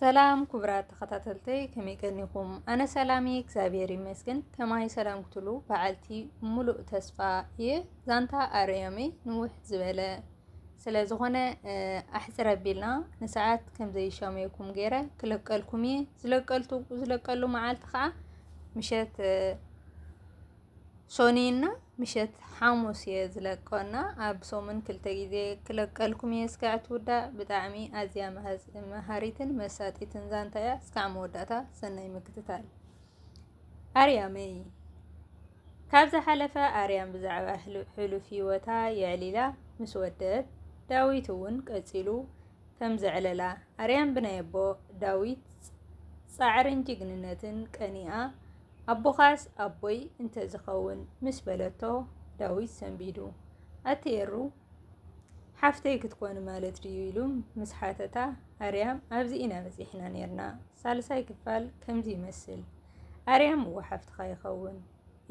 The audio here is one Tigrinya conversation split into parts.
ሰላም ክቡራት ተኸታተልተይ ከመይ ቀኒኹም? ኣነ ሰላም እየ እግዚኣብሔር ይመስገን። ከማይ ሰላም ክትሉ በዓልቲ ሙሉእ ተስፋ እየ። ዛንታ ኣርያመይ ንውሕ ዝበለ ስለ ዝኾነ ኣሕፅር ኣቢልና ንሰዓት ከም ዘይሻመየኩም ገይረ ክለቀልኩም እየ። ዝለቀልቱ ዝለቀሉ መዓልቲ ከዓ ምሸት ሶኒና ምሸት ሓሙስ እየ ዝለቆ እና ኣብ ሰሙን ክልተ ግዜ ክለቀልኩም እየ እስካዕ ትውዳእ ብጣዕሚ ኣዝያ መሃሪትን መሳጢትን ዛንታ እያ እስካዕ መወዳእታ ሰናይ ምክትታል ኣርያመይ ካብ ዝሓለፈ ኣርያም ብዛዕባ ሕሉፍ ህይወታ የዕሊላ ምስ ወደት ዳዊት እውን ቀፂሉ ከም ዘዕለላ ኣርያም ብናይ ኣቦ ዳዊት ጻዕርን ጅግንነትን ቀኒኣ ኣቦኻስ ኣቦይ እንተዝኸውን ምስ በለቶ ዳዊት ሰንቢዱ ኣቲ ኤሩ ሓፍተይ ክትኮኒ ማለት ድዩ ኢሉ ምስ ሓተታ ኣርያም ኣብዚ ኢና በጺሕና ኔርና ሳልሳይ ክፋል ከምዚ ይመስል ኣርያም እወ ሓፍትኻ ይኸውን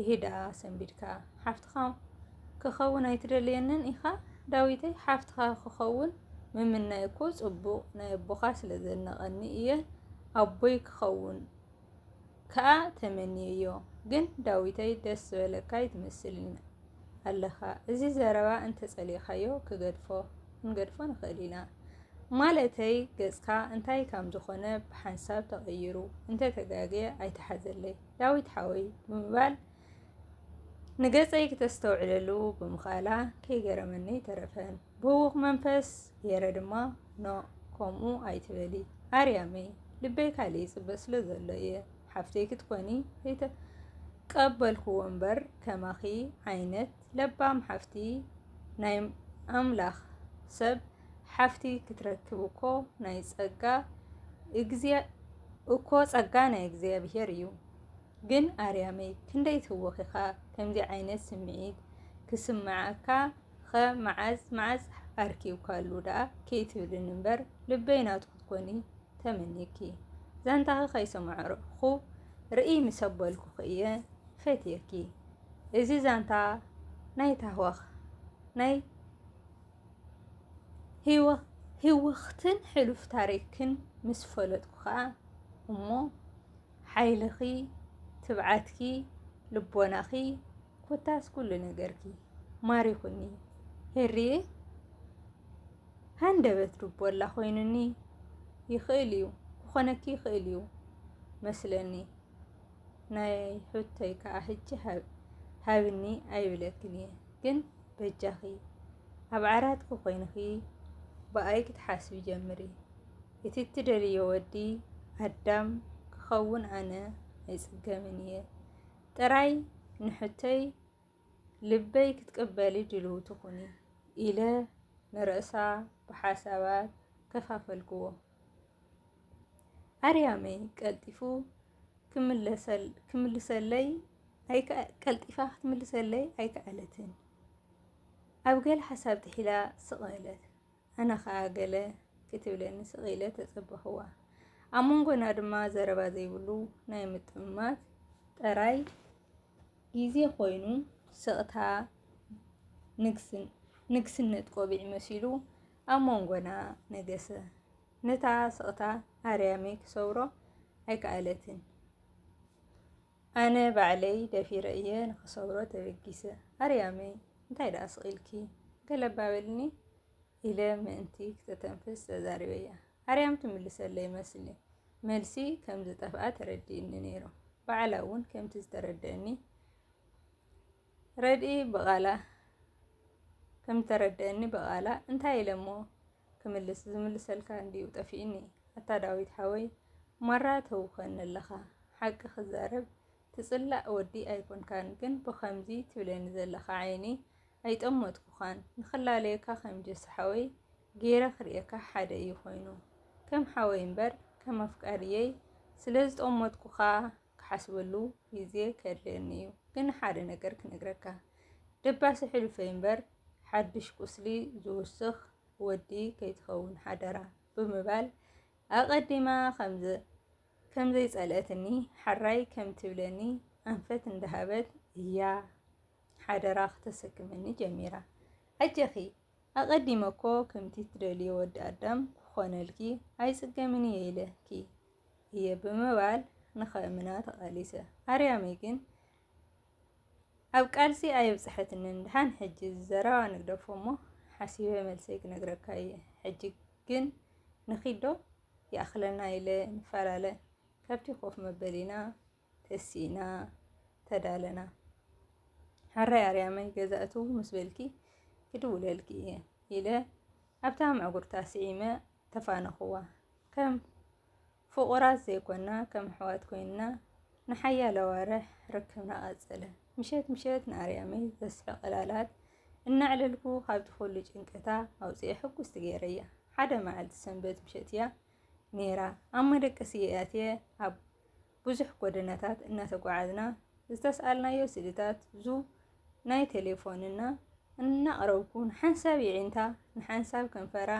እሂ ደኣ ሰንቢድካ ሓፍትኻ ክኸውን ኣይትደልየንን ኢኻ? ዳዊተይ ሓፍትኻ ክኸውን ምምናይ እኮ ጽቡቕ ናይ ኣቦኻ ስለ ዘነቐኒ እየ ኣቦይ ክኸውን ከኣ ተመንየዮ ግን ዳዊተይ ደስ ዝበለካ ይትመስል ኣለኻ እዚ ዘረባ እንተጸሊእካዮ ክገድፎ ክንገድፎ ንኽእል ኢና ማለተይ ገጽካ እንታይ ከም ዝኾነ ብሓንሳብ ተቐይሩ እንተተጋግየ ኣይተሓዘለይ ዳዊት ሓወይ ብምባል ንገጸይ ክተስተውዕለሉ ብምኽኣላ ከይገረመኒ ተረፈን። ብህውኽ መንፈስ ገይረ ድማ ኖ ከምኡ ኣይትበሊ ኣርያመይ፣ ልበይ ካልእ ይጽበ ስለ ዘሎ እየ ሓፍተይ ክትኮኒ ዘይተቀበልክዎ እምበር ከማኺ ዓይነት ለባም ሓፍቲ ናይ ኣምላኽ ሰብ ሓፍቲ ክትረክብ እኮ ናይ ጸጋ እግዚኣብ እኮ ጸጋ ናይ እግዚኣብሄር እዩ። ግን ኣርያመይ ክንደይ ተወኺኻ ከምዚ ዓይነት ስምዒት ክስምዓካ ኸ መዓዝ መዓዝ ኣርኪብካሉ ደኣ ከይትብልኒ እምበር ልበይ ናቱ ክትኮኒ ተመኒኪ ዛንታኺ ከይሰማዕኩ ርእይ ምስ ኣበልኩኺ እየ ፈትየኪ እዚ ዛንታ ናይ ታህዋኽ ናይ ህይወኽትን ሕሉፍ ታሪክን ምስ ፈለጥኩ ከዓ እሞ ሓይልኺ፣ ትብዓትኪ፣ ልቦናኺ ኮታስ ኩሉ ነገርኪ ማሪኹኒ ሄሪየ ሃንደበት ልቦላ ኮይኑኒ ይኽእል እዩ ክኾነኪ ይኽእል እዩ መስለኒ ናይ ሑተይ ከኣ ሕጂ ሃብኒ ኣይብለክን እየ ግን በጃኺ ኣብ ዓራትኪ ኮይንኺ ብኣይ ክትሓስቢ ጀምሪ እቲ እትደልዮ ወዲ ኣዳም ክኸውን ኣነ ኣይጽገምን እየ ጥራይ ንሕተይ ልበይ ክትቅበሊ ድልው ትኹኒ ኢለ ንርእሳ ብሓሳባት ከፋፈልክዎ። ኣርያመይ ቀልጢፉ ክምልሰለይ ቀልጢፋ ክትምልሰለይ ኣይከኣለትን። ኣብ ገለ ሓሳብ ጥሒላ ስቕ በለት። ኣነ ኸኣ ገለ ክትብለኒ ስቕ ኢለ ተጸበኹዋ። ኣብ መንጎና ድማ ዘረባ ዘይብሉ ናይ ምጥምማት ጥራይ ግዜ ኮይኑ ስቕታ ንግስነት ቆቢዕ መሲሉ ኣብ መንጎና ነገሰ። ነታ ስቕታ ኣርያመይ ክሰብሮ ኣይከኣለትን። ኣነ ባዕለይ ደፊረ እየ ንኽሰብሮ ተበጊሰ። ኣርያመይ እንታይ ደኣ ስቒልኪ ገለባ በልኒ ኢለ ምእንቲ ክተተንፍስ ተዛሪበያ። ኣርያም ትምልሰለይ መስሊ መልሲ ከም ዝጠፍኣ ተረዲእኒ ነይሩ። ባዕላ እውን ከምቲ ዝተረደእኒ ረድኢ ብቓላ ከም እተረድኣኒ ብቓላ እንታይ ኢለ እሞ ክምልስ ዝምልሰልካ እንድዩ ጠፊኡኒ ኣታ ዳዊት ሓወይ ማራ ተውከኒ ኣለኻ ሓቂ ክዛረብ ትጽላእ ወዲ ኣይኮንካን ግን ብኸምዚ ትብለኒ ዘለኻ ዓይኒ ኣይጠመትኩኻን ንኽላለየካ ከም ጀስ ሓወይ ገይረ ክርእየካ ሓደ እዩ ኮይኑ ከም ሓወይ እምበር ከም ኣፍቃርየይ ስለ ዝጠመትኩኻ ክሓስበሉ ግዜ ከድልየኒ እዩ ግን ሓደ ነገር ክነግረካ ደባሲ ሕሉፈይ እምበር ሓድሽ ቁስሊ ዝውስኽ ወዲ ከይትኸውን ሓደራ ብምባል ኣቐዲማ ከምዘ ከምዘይጸልአትኒ ሓራይ ከም ትብለኒ ኣንፈት እንዳሃበት እያ ሓደራ ክተሰክመኒ ጀሚራ። ኣጀኺ ኣቀዲመ እኮ ከምቲ ትደልዮ ወዲ ኣዳም ክኾነልኪ ኣይጽገምን እየ ኢለኪ እየ ብምባል ንኸእምና ተቓሊሰ። ኣርያመይ ግን ኣብ ቃልሲ ኣየብጽሐትንን። ድሓን ሕጂ እዚ ዘረባ ንግደፎ እሞ ሓሲበ መልሰይ ክነግረካ እየ። ሕጂ ግን ንኺድ ዶ? ይኣኽለና ኢለ ንፈላለ። ካብቲ ኮፍ መበሊና ተሲእና ተዳለና ሕራይ ኣርያመይ ገዛእቱ ምስ በልኪ ክድውለልኪ እየ ኢለ ኣብታ ምዕጉርታ ስዒመ ተፋነኹዋ ከም ፍቑራት ዘይኮና ከም ኣሕዋት ኮይንና ንሓያለ ኣዋርሕ ርክብና ቀጸለ። ምሸት ምሸት ንኣርያመይ ዘስሕቕ ዕላላት እናዕለልኩ ካብቲ ኩሉ ጭንቀታ ኣውፅኤ ሕጉስቲ ገይረያ። ሓደ መዓልቲ ሰንበት ምሸት እያ ነይራ። ኣብ መደቀሲ'የ ኣትየ ኣብ ብዙሕ ጎደናታት እናተጓዓዝና ዝተስኣልናዮ ስእልታት ዙብ ናይ ቴሌፎንና እናቕረብኩ ንሓንሳብ የዒንታ ንሓንሳብ ከንፈራ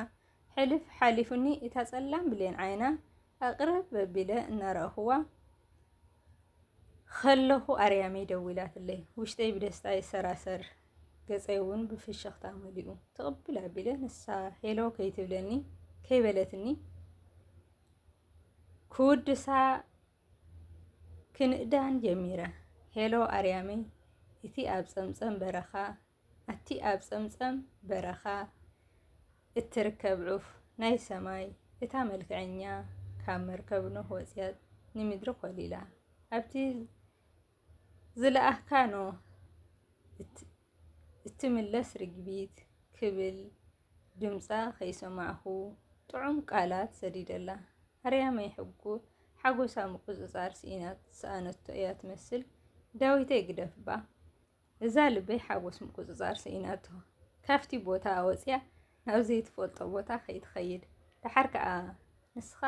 ሕልፍ ሓሊፉኒ እታ ጸላም ብሌን ዓይና ኣቕርብ ኣቢለ እናረኣኹዋ ከለኹ ኣርያመይ ደዊላትለይ። ውሽጠይ ብደስታ ይሰራሰር። ገጸይ እውን ብፍሽኽታ መሊኡ። ትቕብል ኣቢለ ንሳ ሄሎ ከይትብለኒ ከይበለትኒ ክውድሳ ክንእዳን ጀሚረ። ሄሎ ኣርያመይ እቲ ኣብ ጸምጸም በረኻ ኣቲ ኣብ ጸምጸም በረኻ እትርከብ ዑፍ ናይ ሰማይ እታ መልክዐኛ ካብ መርከብ ኖህ ወጽያ ንምድሪ ኮሊላ ኣብቲ ዝለኣኽካ ን እትምለስ ርግቢት ክብል ድምጻ ከይሰማዕኩ ጥዑም ቃላት ሰዲደላ። ኣርያመይ ሓጎሳ ምቁጽጻር ስኢና ዝሰኣነቶ እያ ትመስል። ዳዊተይ ግደፍ'ባ! እዛ ልበይ ሓጎስ ምቁጽጻር ስኢናቶ ካብቲ ቦታ ወጽያ ናብ ዘይትፈልጦ ቦታ ከይትኸይድ ደሓር ከኣ ንስኻ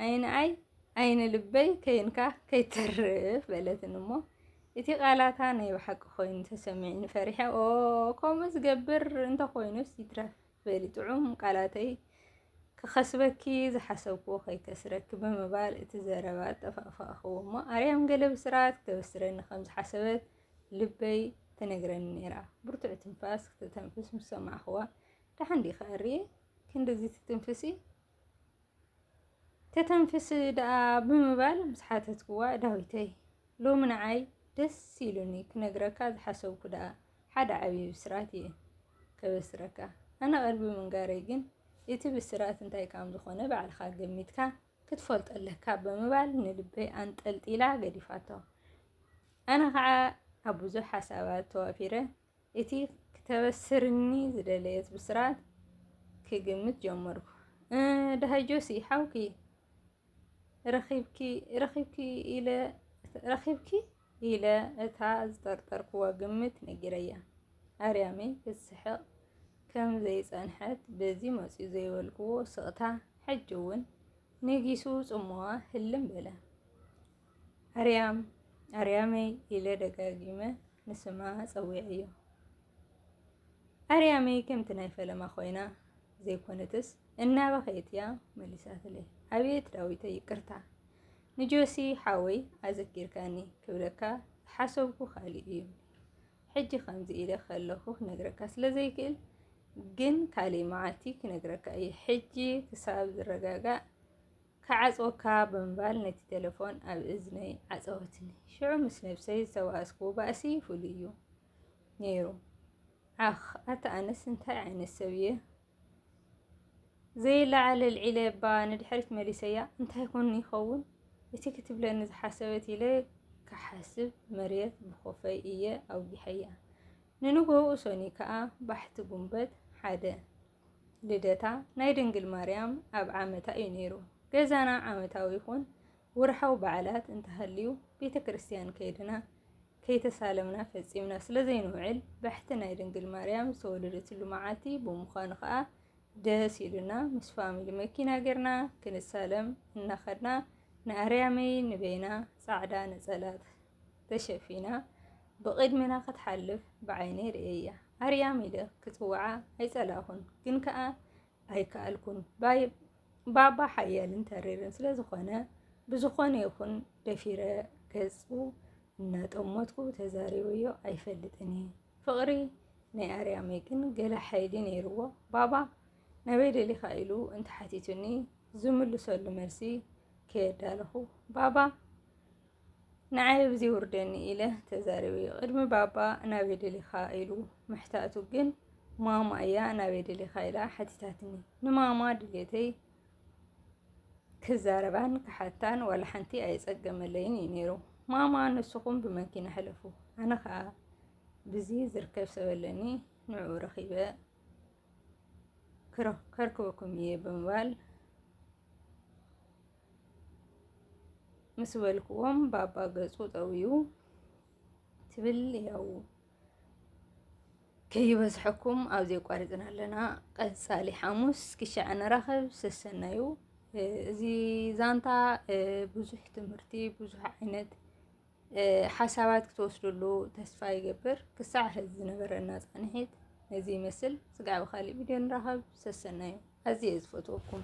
ኣይንኣይ ኣይነ ልበይ ከይንካ ከይተርፍ በለትን እሞ እቲ ቃላታ ናይ ብሓቂ ኮይኑ ተሰሚዕኒ ፈሪሐ ኦ ከምኡ ዝገብር እንተኮይኑስ ይትረፍ በሊ ጥዑም ቃላተይ ክኸስበኪ ዝሓሰብኩዎ ከይከስረኪ ብምባል እቲ ዘረባ ኣጠፋእፋእኽዎ እሞ ኣርያም ገለ ብስራት ክተበስረኒ ከም ዝሓሰበት ልበይ ትነግረኒ ነይራ። ብርቱዕ ትንፋስ ክተተንፍስ ምስ ሰማዕኽዋ ደሓን ዲኺ ኣርየ ክንድዚ ትትንፍሲ ተተንፍስ ደኣ ብምባል ምስ ሓተትክዋ ዳዊተይ ሎሚ ንዓይ ደስ ኢሉኒ ክነግረካ ዝሓሰብኩ ደኣ ሓደ ዓብዪ ብስራት እየ ከበስረካ ኣነ ቀልቢ ምንጋረይ ግን እቲ ብስራት እንታይ ካም ዝኾነ ባዕልኻ ገሚትካ ክትፈልጦ ኣለካ ብምባል ንልበይ ኣንጠልጢላ ገዲፋቶ። ኣነ ከዓ ኣብ ብዙሕ ሓሳባት ተዋፊረ እቲ ክተበስርኒ ዝደለየት ብስራት ክግምት ጀመርኩ። ድሃይ ጆሲ ሓውኪ ረኺብኪ ረኺብኪ ኢለ ረኺብኪ ኢለ እታ ዝጠርጠርክዋ ግምት ነጊረያ ኣርያመይ ክትስሕቕ ከም ዘይጸንሐት በዚ መጽዩ ዘይበልክዎ ስቕታ ሕጂ እውን ነጊሱ ጽምዋ ህልም በለ። ኣርያም ኣርያመይ ኢለ ደጋጊመ ንስማ ጸዊዐዮ። ኣርያመይ ከምቲ ናይ ፈለማ ኮይና ዘይኮነትስ እናበኸየት እያ መሊሳትለይ። ኣቤት ዳዊተይ ይቅርታ ንጆሲ ሓወይ ኣዘኪርካኒ ክብለካ ዝሓሰብኩ ካልእ እዩ። ሕጂ ከምዚ ኢለ ከለኹ ክነግረካ ስለ ዘይክእል ግን ካልእ መዓልቲ ክነግረካ እዩ። ሕጂ ክሳብ ዝረጋጋእ ክዓጽወካ ብምባል ነቲ ተለፎን ኣብ እዝነይ ዓጸወትኒ። ሽዑ ምስ ነብሰይ ዝተባእስክዎ ባእሲ ፍሉይ'ዩ ነይሩ። ዓኽ! ኣታ ኣነስ እንታይ ዓይነት ሰብ'የ? ዘይለዓል ኣልዒለ'ባ ንድሕሪት መሊሰያ። እንታይ ኮን ይኸውን እቲ ክትብለኒ ዝሓሰበት ኢለ ክሓስብ መርየት ብኮፈይ እየ ኣውጊሐያ። ንንግሆኡ ሰኑይ ከኣ ባሕቲ ጉንበት ሓደ። ልደታ ናይ ድንግል ማርያም ኣብ ዓመታ እዩ ነይሩ። ገዛና ዓመታዊ ይኹን ውርሓዊ በዓላት እንተሃልዩ ቤተ ክርስቲያን ከይድና ከይተሳለምና ፈጺምና ስለ ዘይንውዕል ባሕቲ ናይ ድንግል ማርያም ዝተወለደትሉ መዓልቲ ብምዃኑ ከዓ ደስ ኢሉና ምስ ፋሚሊ መኪና ጌርና ክንሳለም እናኸድና ንኣርያመይ ንበይና ጻዕዳ ነጸላት ተሸፊና ብቕድሚና ክትሓልፍ ብዓይነይ ርእየያ። ኣርያም ኢለ ክጽውዓ ኣይጸላእኹን፣ ግን ከኣ ኣይከኣልኩን። ባባ ሓያልን ተሪርን ስለ ዝኾነ፣ ብዝኾነ ይኹን ደፊረ ገጹ እናጠመትኩ ተዛሪበዮ ኣይፈልጥን እየ። ፍቕሪ ናይ ኣርያመይ ግን ገለ ሓይሊ ነይርዎ። ባባ ናበይ ደሊኻ ኢሉ እንተሓቲቱኒ ዝምልሰሉ መልሲ ከየዳለኹ ባባ ንዓይ ብዚ ውርደኒ ኢለ ተዛሪበዮ ቅድሚ ባባ ናበይ ደሊኻ ኢሉ ምሕታቱ ግን ማማ እያ ናበይ ደሊኻ ኢላ ሓቲታትኒ ንማማ ድሌተይ ክዛረባን ክሓታን ዋላ ሓንቲ ኣይጸገመለይን እዩ ነይሩ። ማማ ንስኹም ብመኪና ሕለፉ፣ ኣነ ከዓ ብዚ ዝርከብ ሰብ ኣለኒ ንዕኡ ረኺበ ከርክበኩም እየ ብምባል ምስ በልክዎም ባባ ገጹ ጠውዩ ትብል ያው ከይበዝሐኩም ኣብ ዘቋሪፅና ኣለና ቀፃሊ ሓሙስ ክሻዕ ንራኸብ ሰሰናዩ እዚ ዛንታ ብዙሕ ትምህርቲ ብዙሕ ዓይነት ሓሳባት ክትወስድሉ ተስፋ ይገብር ክሳዕ ሕዚ ዝነበረና ፃንሒት ነዚ ይመስል ስጋዕ ብካሊእ ቪድዮ ንራኸብ ሰሰናዩ ኣዝየ ዝፈትወኩም